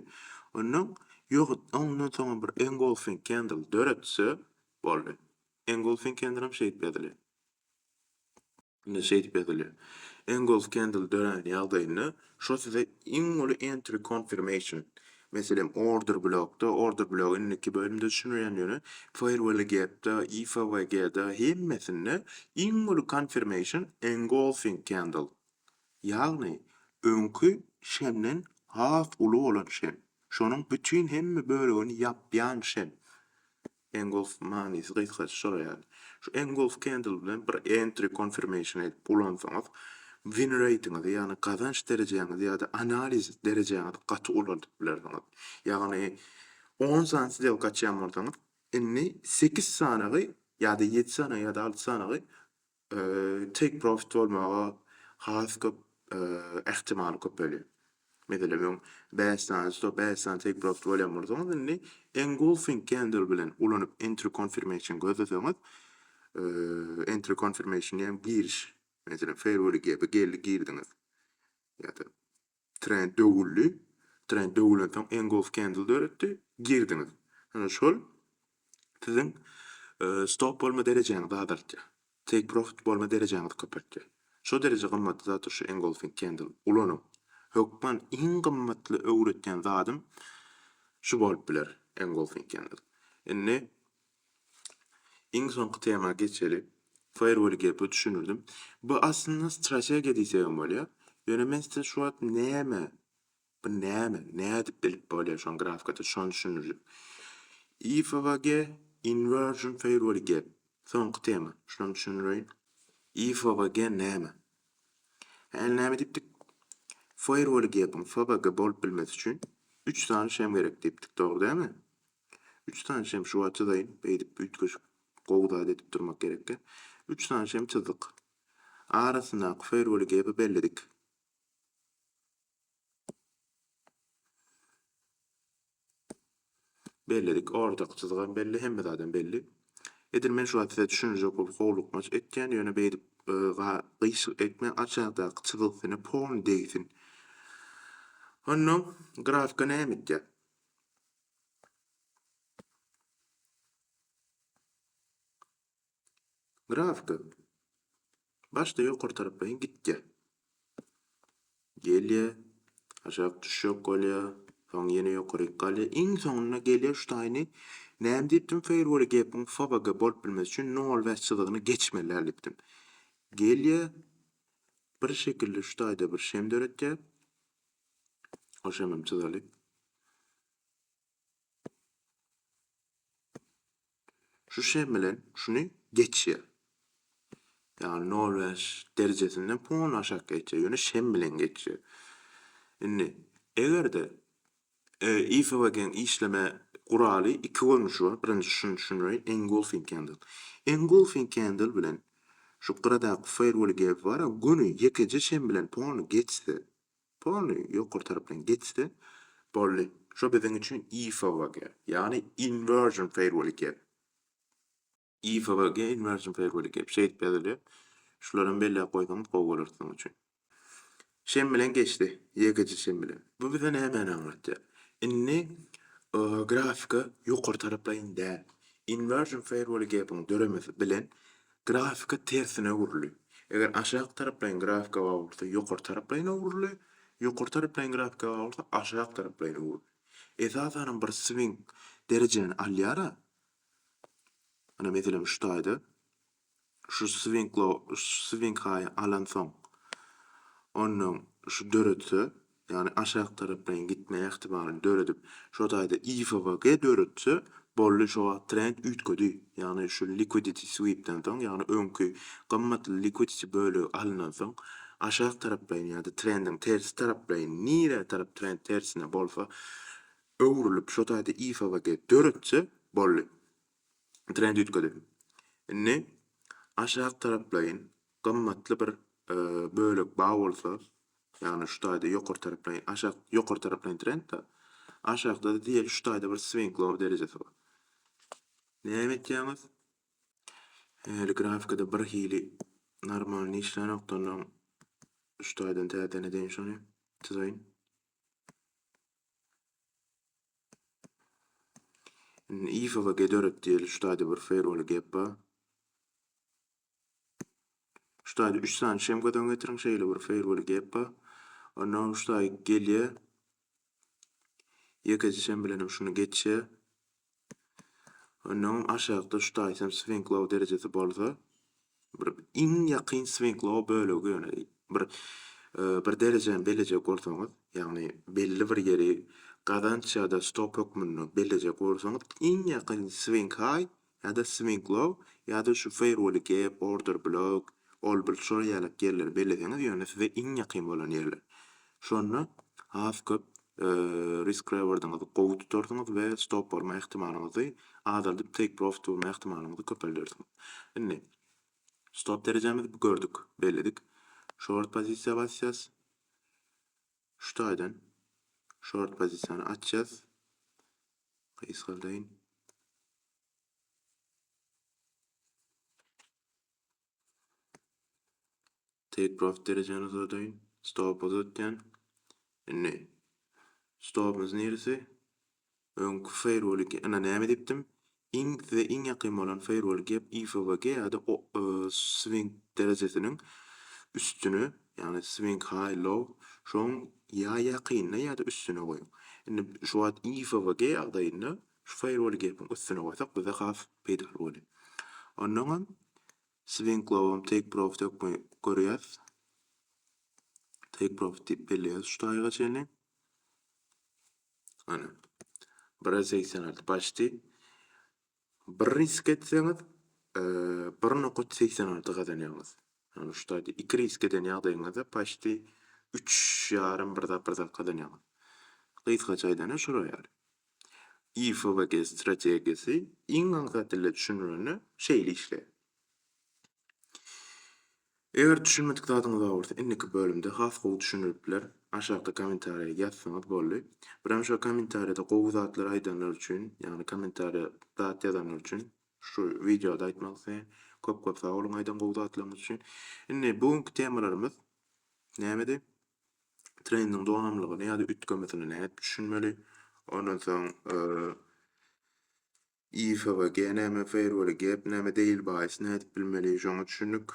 Ondan ýohut ondan soňam bir engulfing candle döretse boldy. Engulfing candle hem şeýdip ýazylýar. Indi şeýdip ýazylýar. Engulf candle dörän ýagdaýynda Şo size iň uly entry confirmation. Meselem order blokda, order blok indiki bölümde düşünilýän ýöne firewall gapda, IFWGda hemmesinde iň uly confirmation engulfing candle. Ýagny öňki şemden has uly bolan şem. Şonuň bütin hemme bölegini ýapýan şem. Engulf manysy gysgaça şolar ýaly. Şu engulf candle bilen bir entry confirmation edip ulansaňyz win rate-ňizi ýagny gazanç derejäňizi ýa-da analiz derejäňizi gaty ulaldyp bilersiňiz. Ýagny on sany sdelka açýan bolsaňyz indi sekiz sanagy ýa-da ýedi sanagy ýa-da alty sanagy take profit bolmaga has köp ähtimal köpelýär. Meselem öň bäş sany stop bäş sany take profit bolýan bolsaňyz indi engulfing candle bilen ulanyp entry confirmation gözleseňiz entry confirmation diýen giriş meselem fair wheel gape geldi girdiňiz ýa-da Trend döwüldi. Trend döwülensoň engulf kendl döretdi. Girdiňiz. Ine şol siziň stop bolma derejäňizi azaltýar. Take profit bolma derejäňizi köpeltýär. Şo dereje gymmatly zatdyr şu engulfing kendl. Ulanyň. Hökman iň gymmatly öwretýän zadym şu bolup biler engulfing kendl. Indi Iň soňky tema geçeli. Firewall gepi düşündirdim. Bu aslynda strategiýa diýsegem bolýar. Ýöne men size şu wagt näme, bu näme, nädip bilip bolýar şony grafikada şony düşündirjek. IFVG Inversion Firewall gep. Soňky tema. Şuny düşündireýin. IFVG näme? Hä, näme diýipdik? Firewall gepiň FVG bolup bilmesi üçin 3 sany şem gerek diýipdik, dogry dälmi? Üç sany şem şuwagt çyzaýyn, beýdip üýtgeşik gowy zat edip durmak gerekkä. Üç sany şem çyzdyk. Arasyndaky foýrweli gäbi belledik. Belledik. Ortaky çyzgam belli, hemme zadam belli. Edil men şuwagt size düşündirjek bolup howlukmaç etýän, ýöne beýdip gyýşyk etme, aşakdaky çyzgysyna pon degsin. Onda grafika näme etýär? Grafika başda ýokary taraplaýyn gitýär. Gelýär, aşak düşjek bolýar, soň ýene ýokaryk galýar. Iň soňunda gelýär şu taýyny näme diýipdim Firewall gepiň FOBG bolup bilmesi üçin nol bäş çyzygyny geçmelidir diýipdim. Gelýär, bir şekilde şu taýda bir şem döretýär. Hoşemem çyzaly. Şu şem bilen şuny geçýär. Ýagny 0,5 derejesinden puň aşak geçýär. Ýöne şem bilen geçýär. Indi eger-de IFWG-iň işleme guraly iki görnüşi bar. Birinjisi şuny düşündireýin, engulfing candle. Engulfing candle bilen şu gyradaky fairwall gepi bar-a, güni ýekeje çen bilen polny geçse, polny ýokary tarap bilen geçse, boldy. Şo biziň üçin IFWG, ýagny inversion fairwall gep. IFVG Inversion Fairway Gap şeýdip ýazylýar. Şulary hem belläp goýsaňyz gowy bolar siziň üçin. Şem bilen geçdi. Ýekeje şem bilen. Bu bize nämäni aňlatýar? Indi grafika ýokary taraplaýyn däl. Inversion Fairway Gap-iň döremesi bilen grafika tersine öwrüldi. Eger aşak taraplaýyn grafika bar bolsa ýokary taraplaýyn öwrüldi. Ýokary taraplaýyn grafika bar bolsa aşak taraplaýyn öwrüldi. Esasanam bir swing derejäni alýar-a, Ine, meselem, şu taýda şu swinklo swinkhaýy alansoň, ondan şu döretse, ýagny aşak tarapyna gitme ähtimalyny döredip, şo taýda IFVG döretse, boldy, şo wagt trend üýtgedi. Ýagny şu liquidity sweep-den soň, ýagny öňki gymmatly liquidity bölegi alynansoň, aşak taraplaýyn ýa-da trendiň tersi taraplaýyn, nirä tarap trend tersine bolsa, öwrülip şo taýda IFVG döretse boldy. Trend üýtgedi. Indi aşak taraplaýyn gymmatly bir bölek bar bolsa, ýagny şu taýda ýokary taraplaýyn aşak ýokary taraplaýyn trend-de, aşakda-da diýeli şu taýda bir swing low derejesi bar. Näme etýäňiz? Häli grafikada birhili normalny işlänokdy onnoň şu taýdan täzeden edeýin şony, çyzaýyn. Indi IFA-a gederek diýeli, şu taýda bir feýrwaly gep bar. Şu taýda üç sany şemkadan getiriň, şeýle bir feýrwaly gep bar. Onda şu taý gelýär. Ýekeje şem bilen hem şuny geçýär. Onnoň aşakda şu taýsynyp swenklow derejesi bolsa, bir iň ýakyn swenklow bölegi ýöne bir bir derejäni bellejek bolsaňyz, ýagny belli bir ýeri gazanç ýa-da stop hökmünde bellejek bolsaňyz, iň ýakyn swenk haý ýa-da swenklow ýa-da şu feýrwoli gap, order blok, all bul şol ýaly ýerleri belleseňiz, ýöne size iň ýakyn bolan ýerler. Şonda has köp risk rewardyňyzy gowy tutarsyňyz we stop bolma ähtimalyňyzy azaldyp take profit bolma ähtimalyňyzy köpeldersiňiz. Indi stop derejämizi bu gördük, belledik. Short pozisiýa basýas. Şu taýdan short pozisiýany açýas. Gysgaldaýyn. Take profit derejäni uzadaýyn. Stop uzatýan. Indi stopumyz niresi? Öňki firewall ina näme edipdim? Iň size iň ýakyn bolan firewall gep IFVG ýa-da swing derejesiniň üstüne, ýagny swing high low şoň ýa ýakynyna ýa-da üstüne goýuň. Indi şu wagt IFVG ýagdaýynda şu firewall gepiň üstüne goýsak bize has peýdaly bolýar. Onnoňam Swing lowam take profit ýokmy görýäs. Take profit diýip belleýäs şu taýyga çenli. Ana. 1-e 86 başdi. Bir risk etseňiz, bir nokat 86 gazanýaňyz. Ýagny şu taýda iki risk eden ýagdaýyňyzda başdi üç ýarym bir zat bir zat gazanýaňyz. Gysgaça aýdanda şolar ýaly. YFWG strategiýasy iň agza dilde düşünilende şeýle işleýär. Eger düşünmedik zadyňyz bar bolsa indiki bölümde has gowy düşünilip biler. Aşakda kommentariýa ýazsaňyz boldy. Birem şo kommentariýada gowy zatlar aýdanlar üçin, ýagny kommentariýa zat ýazanlar üçin şu wideoda aýtmak isleýän. Köp köp sag boluň aýdan gowy zatlaryňyz üçin. Indi bu günki temalarymyz nämedi? trendiň donanmlygyny ýa-da üýtgemesini nädip düşünmeli? Ondan soň IFWG näme, Fairwell Gap näme, Daily Buys nädip bilmeli? Şoňa düşündik.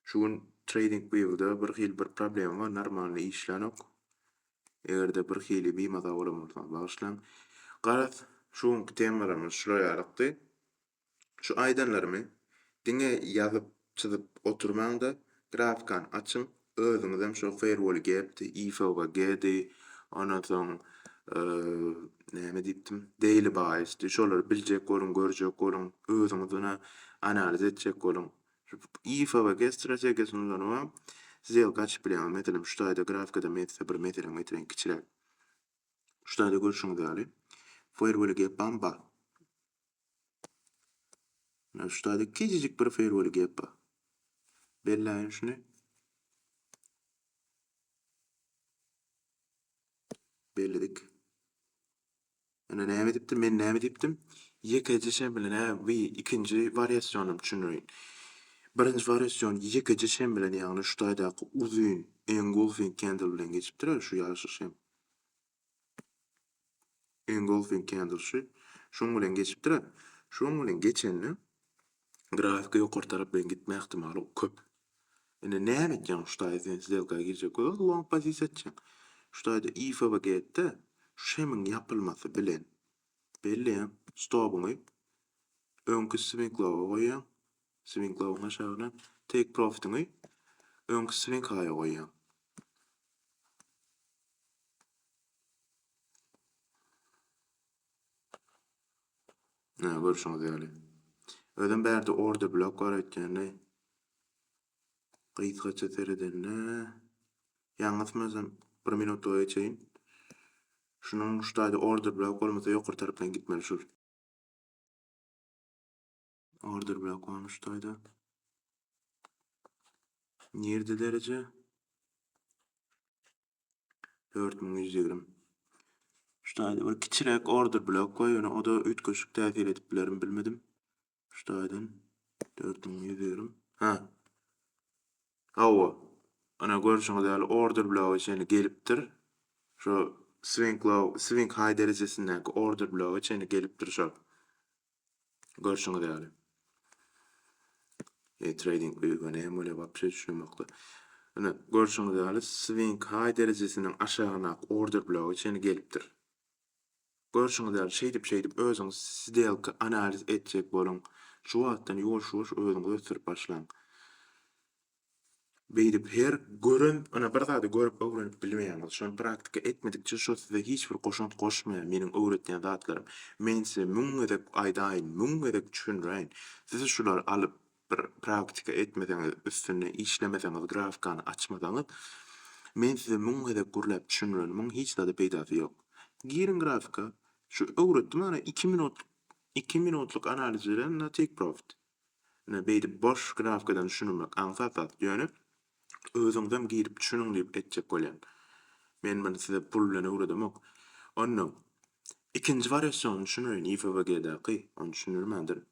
Şu gün TradingView'da birhili bir problema bar, normalny işlänok. Eger-de birhili bimaza bolan bolsaňyz bagyşlaň. Garaz, şu günki temalarymyz şular ýalykdy. Şu aýdanlarymy diňe ýazyp çyzyp oturmaňda grafkan açyň özüňizem şo feýrwol gepdi ifwg di ondan soň näme diýipdim daily baýysdy şolary biljek boluň görjek boluň özüňiz ony analiz etjek boluň ifwg strategiýasyny ulanybam zyýelka açyp bilýäňiz meselem şu taýda grafkada men size bir meselem getireýin kiçiräk şu taýda görşüňiz ýaly feýrwol gepbam bar Menä şu taýda kiçijik bir firweli gep bar. Belläýin şuny. Belledik. Ine näme diýipdim, men näme diýipdim? Ýekeje şembilene we ikinji wariasionym düşündirin. Birinji wariasion ýekeje şem bilen, ýagny şu taýdaky uzyn engulfing candle bilen geçipdir, şu ýaşyl şem. Engulfing candle şu şuň bilen geçipdir-ä. Şuň bilen geçende grafika ýokary tarap bilen gitme ähtimaly köp. Indi näme etjäň şu taýda sen sdelka girjek bolsaň long pozisiýa etjäň. Şu taýda IFVG et-de, şu şemiň ýapylmasy bilen belleýäň stobuňy öňki swinkloga goýýaň, Swing lowuň aşagyna take profitiňi öňki swing high-a goýýaň. Ine, görşüňiz ýaly. Özem bärde order blok bar öýtgende. Gysgaça seredende, ýalňysmasam, bir minutlyga geçeýin. Şunuň şu taýda order blok bolmasa, ýokary tarapdan gitmeli şul. Order bilen konuşdaýda. Nirde dereje? 4120. Şudaýda bir kiçiräk order blok goý, ýöne o da üýtgeşik täsir edip bilerim bilmedim. Şudaýdan 4120. Ha. Hawa. Ana görşüňiz ýaly order blogy çenli gelipdir. Şu swing low, swing high derejesindäki order blogy çenli gelipdir şol. Görşüňiz ýaly. E trading öýge näme bolýar wapşe düşünemokda. Ine görşüňiz ýaly swing high derejesiniň aşagynak order blogy çenli gelipdir. Görşüňiz ýaly şeýdip şeýdip özüňiz sdelka analiz etjek boluň. Şu wagtdan ýuwaş ýuwaş özüňizi ösdürip başlaň. Beýdip her gören ynha bir zady görüp öwrenip bilmeýäňiz şony praktika etmedikçe şo size hiç bir goşant goşmaýar meniň öwretýän zatlarym men size müň gezek aýdaýyn müň gezek düşündiräýin siz şulary alyp bir praktika etmeseňiz üstünde işlemeseňiz grafkany açmasaňyz men size müň gezek gürläp düşündirenimiň hiç zada peýdasy ýok giriň grafika şu öwretdim ana iki minutlyk iki minutlyk analiz bilen na take profit. Ine, beýdip boş knapkadan düşünmek aňsat zat. Ýöne özüňizem girip düşüniň diýip etjek bolýan. Men muny size pul bilen öwredemok. Onda ikinji wariasiony düşüneýin, IFWG-daky. Ony düşündirmändirin.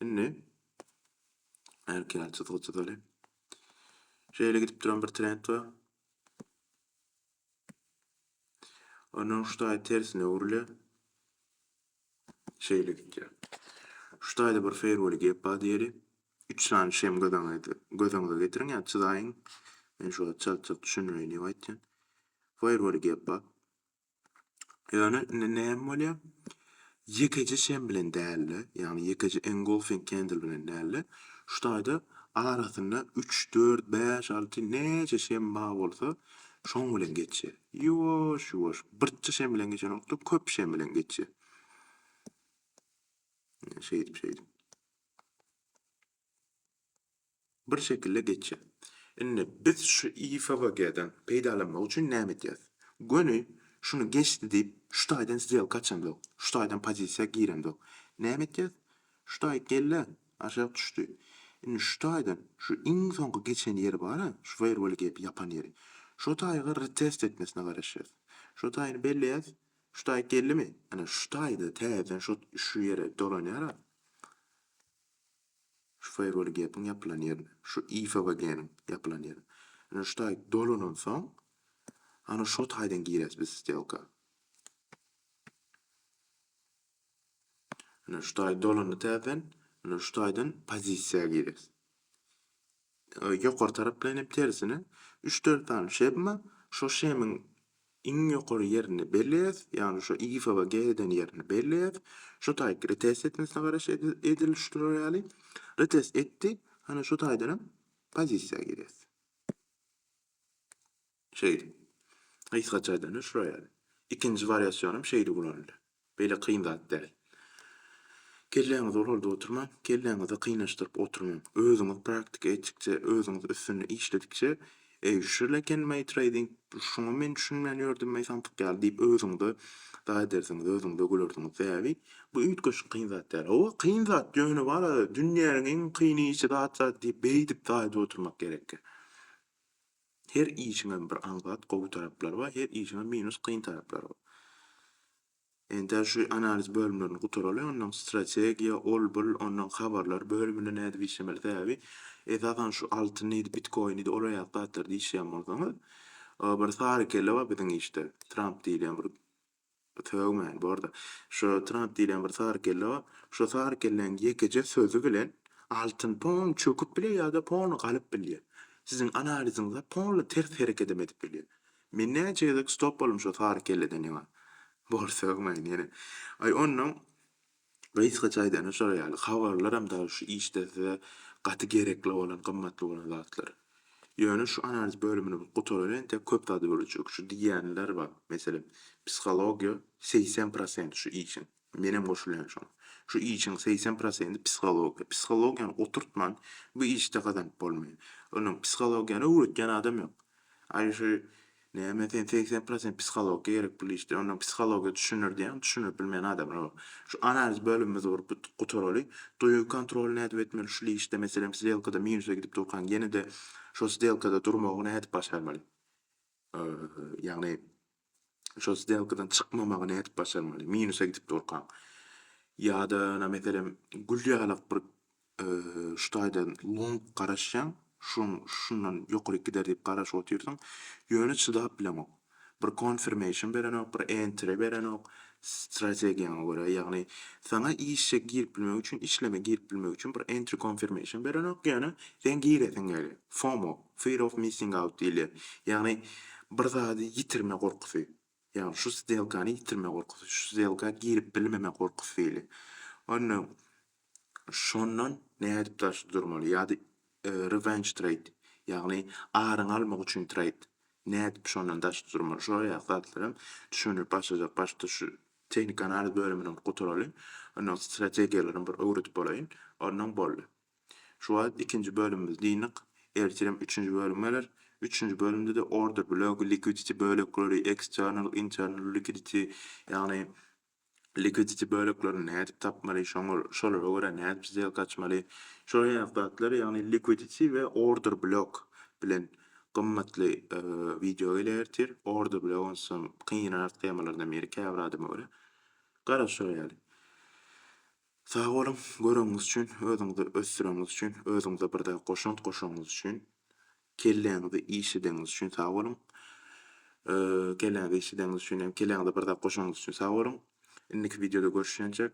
Indi erkile çyzgy çyzaly. Şeýle gidip duran bir trend bar. Ondan şu taýy tersine öwrülýär. Şeýle gidýär. Şu taýda bir feýrweli gep bar diýeli. Üç sany şem gözeňize göz öňüňize getiriň ýa çyzaýyň. Men şu wagt çalt-çalt düşündireýin diýip aýtýan. Feýrweli gep bar. Ýöne indi näme bolýar? Ýekeje şem bilen däl-de, ýagny ýekeje engulfing candle bilen däl-de, şu taýda arasynda üç, dört, bäş, alty, näçe şem bar bolsa, şoň bilen geçýär. Ýuwaş, ýuwaş, birçe şem bilen geçen wagtda köp şem bilen geçýär. Ine, şeýdip, şeýdip. Bir şekilde geçýär. Indi biz şu IFVG-den peýdalanmak üçin näme edýäris? Göni şuny geçdi diýip, şu taýdan sdelka açamzok, şu taýdan pozisiýa giremzok. Näme etýäris? Şu taý gel-de, Aşak düşdi. Indi şu taýdan, şu iň soňky geçen ýeri bar-a, şu firewall-y gelip ýapan ýeri. Şo taýy-ga retest etmesine garaşýas. Şo taýyny belleýäs. Şu taýy geldimi? Ana, şu taýy-da täzeden şo, şu ýere dolanýar-a. Şu firewall-y gepiň ýapylan ýerine. Şu IFWG-niň ýapylan ýerine. Indi şu taý dolanansoň, ana şo taýdan girýäs biz stelka. Ine şu taý dolanda täzeden ine şu taýdan pozisiýa gireris. Ýokary tarapdan hem tersine 3-4 sany şebma şo şemiň iň ýokary ýerini belleýäs, ýagny şo iýfaba geh eden ýerini belleýäs. Şu taý retest etmesine garaş edil şu turar ýaly. Retest etdi. Ana şu taýdan hem pozisiýa gireris. Şeýdip, gysga çaýdan üç roýal. Ikinji wariasiýon hem şeýdip ulanylýar. Beýle kyn zat däl. Kelläňizi ulaldyp oturmaň, kelläňizi kynaşdyryp oturmaň. Özüňiz praktika etdikçe, özüňiz üstünde işledikçe, Eý, şul ekenmaý treýding, şuňa men düşünmän ýördümmaý samsyk ýaly diýip özüňize daý edersiňiz, özüňize gülersiňiz. Sebäbi bu üýtgeşik kyn zat däl. Hawa, kyn zat, ýöne wara, dünýäniň iň kyn işi zat-zat diýip beýdip daýyp oturmak gerekkä? Her işiňem bir aňsat gowy taraplary bar, her işiňem minus kyn taraplary bar. Entä şu analiz bölümlerini gutaraly, ondan strategiýa, ol bul, ondan habarlar bölüminde nädip işlemeli, sebäbi esasan şu altyndydy, bitkoinidi olar ýaly zatlarda işleýän bolsaňyz, bir sary kelle bar biziň işde, Tramp diýilýän bir Sögmen, borda. Şo Trump diýlen bir sary kelle bar. Şo sary kelleň ýekeje sözi bilen altyn pon çöküp bilýär ýa-da pon galyp bilýär. Siziň analiziňize polny ters herekedem edip bilýär. Men näçe gezek stop boldum şo sary kelleden ýaňa. Bor, sögmen ýene. Aý onnoň Gysgaça aýdanda şolar ýaly habarlaram dagy şu işde size gaty gerekli bolan, gymmatly bolan zatlar. Ýöne şu analiz bölümini bir gutaran entek köp zady bölejek. Şu diýýänler bar, meselem, psihologiýa segsen prosent şu işiň, menem goşulýan şoňa. Şu işiň segsen prosenti psihologiýa. Psihologiýany oturtman bu işde gazanyp bolmaýar. Onuň psihologiýany öwretýän adam ýok. Aýry şu Näme sen segsen prosent psihologiýa gerek pul işde onda psihologiýa düşündir diýäň düşündirip bilmeýän adamlar bar. Şu analiz bölümimizi gurup bu gutaraly. Duýgy kontroly nädip etmeli şul işde meselem sdelkada minusa gidip durkaň ýenede şo sdelkada durmagy nädip başarmaly. Ýagny şo sdelkadan çykmamagy nädip başarmaly minusa gidip durkaň. Ýada ýöne meselem gül ýalak bir şu taýdan lňk garaşýaň, şoň şundan ýokaryk gider diýip garaşyp otyrsyň, ýöne çydap bileňok. Bir confirmation berenok, bir entry berenok, strategiýaňa görä, ýagny saňa işe girip bilmek üçin, işleme girip bilmek üçin bir entry confirmation berenok, ýöne seň giresiň gelýär. FOMO, fear of missing out diýilýär. Ýagny bir zady ýitirme gorkusy. Ýagny şu sdelkany ýitirme gorkusy, şu sdelka girip bilmeme gorkusy weli. Onda şondan nädip daşda durmaly? Ýa-da revenge trade, ýagny aryňy almak üçin trade. Nädip şondan daşda durmaly? Şol aýak zatlaram düşündirip başlajak. Başda şu tehnika analiz bölümini gutaraly. Ondan strategiýalaram bir öwredip bolaýyn. Ondan boldy. Şu wagt ikinji bölümimiz dynyk, ertirem üçünji bölüm geler. Üçünji bölümde-de order block, liquidity bölekleri, external, internal liquidity, ýagny liquidity böleklerini nädip tapmaly, şoňa şolara görä nädip sdelka açmaly, şolar ýaly zatlar, ýagny liquidity we order block bilen gymmatly wideo geler ertir. Order block onsa kynrak temalardan biri käbir adama görä. Garaş şolar ýaly. Sag boluň, göreniňiz üçin, özüňizi ösdüreniňiz üçin, özüňize bir zat goşant goşanyňyz üçin, kelläňizi işledeniňiz üçin sag boluň. Kelläňizi işledeniňiz üçin hem, kelläňize bir zat goşanyňyz üçin sag boluň. Indiki wideoda görüşýänçäk.